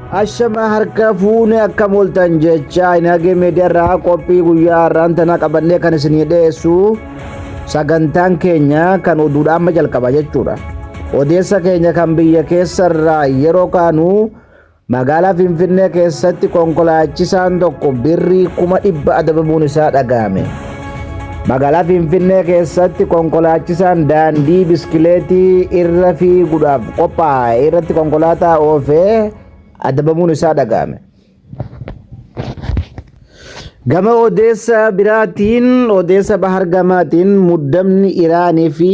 Ashama harka fuune akkam ooltan jecha Inagee Meediyaarraa qophii guyyaa har'aan tana qabannee kan isinii dhiyeessu sagantaan keenya kan oduudha amma jalqaba jechuudha. Odeessa keenya kan biyya keessarraa yeroo kaanu magaalaa Finfinnee keessatti konkolaachisaan tokko birrii kuma dhibba adabamuun isaa dhaga'ame. Magaalaa Finfinnee keessatti konkolaachisaan daandii biskileetii irra fiiguudhaaf qophaa'e irratti konkolaataa oofee adabamuun isaa dhaga'ame. Gama odeessa biraatiin odeessa bahar gamaatiin muddamni Iraanii fi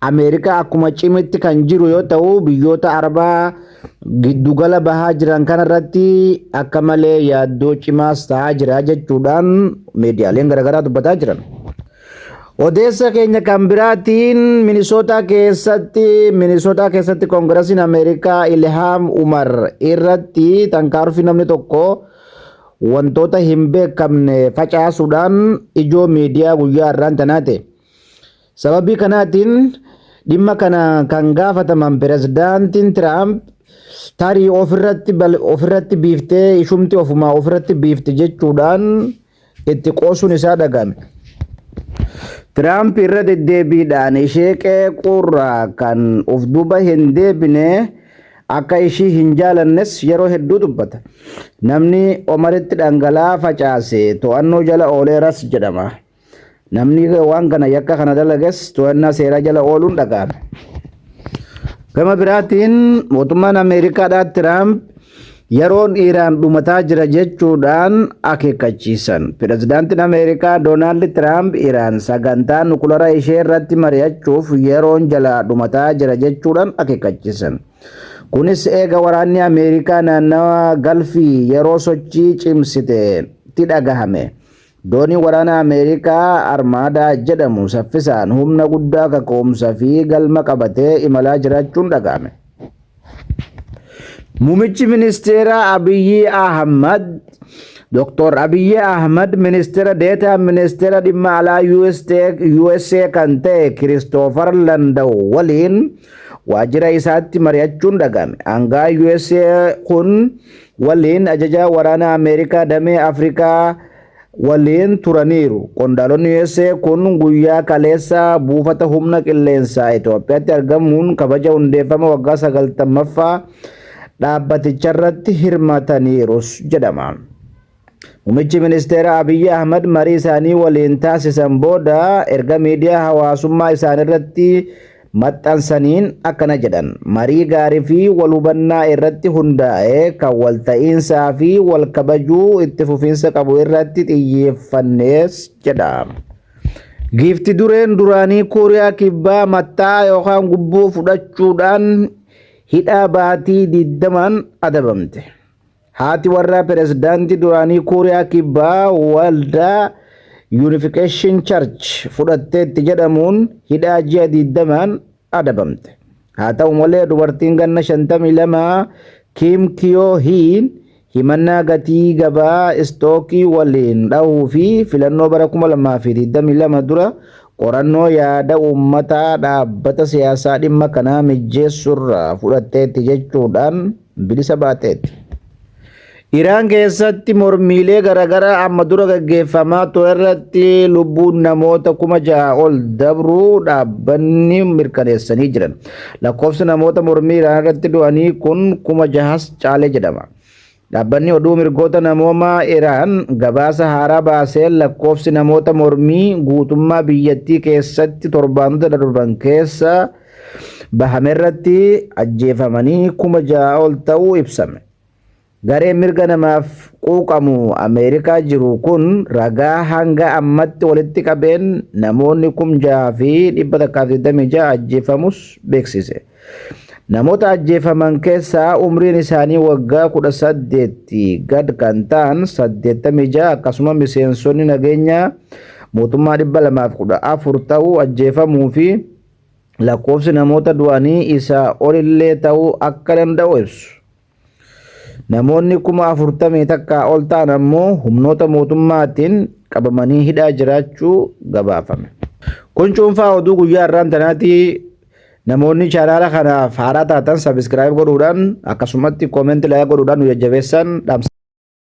Ameerikaa akkuma cimetti kan jiru yoo ta'u biyyoota Arabaa giddugala bahaa jiran kanarratti akka malee yaaddoo cimaas ta'aa jira jechuudhaan miidiyaaleen garaagaraa dubbataa jiran. Odeessa keenya kan biraatiin Minisootaa keessatti Minisootaa keessatti Koongirasiin Ameerikaa Ilhaam Umar irratti tankaarfii namni tokko wantoota hin beekamne facaasuudhaan ijoo miidiyaa guyyaa har'aan tanaate. Sababii kanaatiin dhimma kana kan gaafataman Pirezidaantiin Tiraamp tarii ofirratti biiftee ishumti ofumaa ofirratti biifte jechuudhaan itti qoosuun isaa dhaga'ame. Tiraamp irra deddeebiidhaan ishee qeequurraa kan of duuba hin deebine akka ishii hin jaalannes yeroo hedduu dubbata. Namni Omaritti dhangala'aa facaase to'annoo jala ooleeras jedhama. Namni waan kana yakka kana dalages to'annaa seeraa jala ooluun dhaga'ame. Gama biraatiin mootummaan Ameerikaadhaa Tiraamp yeroon Iraan dhumataa jira jechuudhaan akeekkachiisan. Pirezidaantiin Ameerikaa Doonaald Tiraamp Iraan sagantaa nukulara ishee irratti mari'achuuf yeroon jalaa dhumataa jira jechuudhaan akeekkachiisan. Kunis eega waraanni Ameerikaa naannawa Galfii yeroo sochii cimsite ti dhagahame. Dooniin waraanaa Ameerikaa Armaadaa jedhamu saffisaan humna guddaa kaka'umsa fi galma qabatee imalaa jiraachuun dhaga'ame. Mumichi Ministeeraa Abiyyii Ahmad Dr. Abiyyii Ahmad Ministeera Deetaa Ministeera Dhimma Alaa USA kan ta'e Kiristoofar Landaw waliin waajjira isaatti mari'achuun dhaga'ame. Aangaa USA kun waliin ajajaa waraanaa Ameerikaa damee Afrikaa waliin turaniiru. Qondaalonni USA kun guyyaa kaleessaa buufata humna qilleensaa Itoophiyaatti argamuun kabaja hundeeffama waggaa 90ffaa dhaabbaticharratti hirmataniirus jedhama. Mumichi Ministeera Abiyyi Ahmad marii isaanii waliin taasisan booda erga miidiyaa hawaasummaa isaanirratti maxxansaniin akkana jedhan. Marii gaarii fi wal hubannaa irratti hundaa'e kan wal ta'iinsaa fi wal kabajuu itti fufiinsa qabu irratti xiyyeeffannees jedha. Giifti dureen duraanii Kooriyaa Kibbaa matta'aa yookaan gubboo fudhachuudhaan hidhaa baatii 20n adabamte. Haati warraa pirezidaantii duraanii Kuuriyaa Kibbaa waldaa Unification Church fudhatteetti jedhamuun hidhaa ji'a 20n adabamte. Haa ta'u malee dubartiin ganna 52 Kim Kiyoo Hiin himannaa gatii gabaa istookii waliin dhahuu fi filannoo bara 2022 dura qorannoo yaada uummataa dhaabbata siyaasaa dhimma kanaa mijjeessurraa fudhatteetti jechuudhaan bilisa baateetti. Iraan keessatti mormiilee garaagaraa amma dura gaggeeffamaa ture irratti lubbuun namoota kuma ja'a ol dabruu dhaabbanni mirkaneessanii jiran. Lakkoofsi namoota mormii Iraan irratti du'anii kun kuma jahas caalee jedhama. Dhaabbanni oduu mirgoota namoomaa Iraan gabaasa haaraa baaseen lakkoofsi namoota mormii guutummaa biyyattii keessatti torbaanota darban keessa bahame irratti ajjeefamanii kuma ja'a ol ta'uu ibsame. Gareen mirga namaaf quuqamu Ameerikaa jiru kun ragaa hanga ammatti walitti qabeen namoonni kum ja'a fi dhibba takkaa fi digdamii ja'a ajjeefamus beeksise. Namoota ajjeefaman keessaa umriin isaanii waggaa kudha saddeetti gad kan ta'an saddeettamii ja'a akkasuma miseensonni nageenyaa mootummaa dhibba lamaaf kudha afur ta'uu ajjeefamuu fi lakkoofsi namoota du'anii isaa olillee ta'uu akka danda'u ibsu. Namoonni kuma afurtamii takkaa ol ta'an ammoo humnoota mootummaatiin qabamanii hidhaa jiraachuu gabaafame. Kun cuunfaa oduu guyyaa har'aan tanaati. Namoonni chaanaala kanaaf haaraa taatan sabiskiraayib godhuudhaan akkasumatti koomenti laayik godhuudhaan nu jajjabeessan dhaamsa.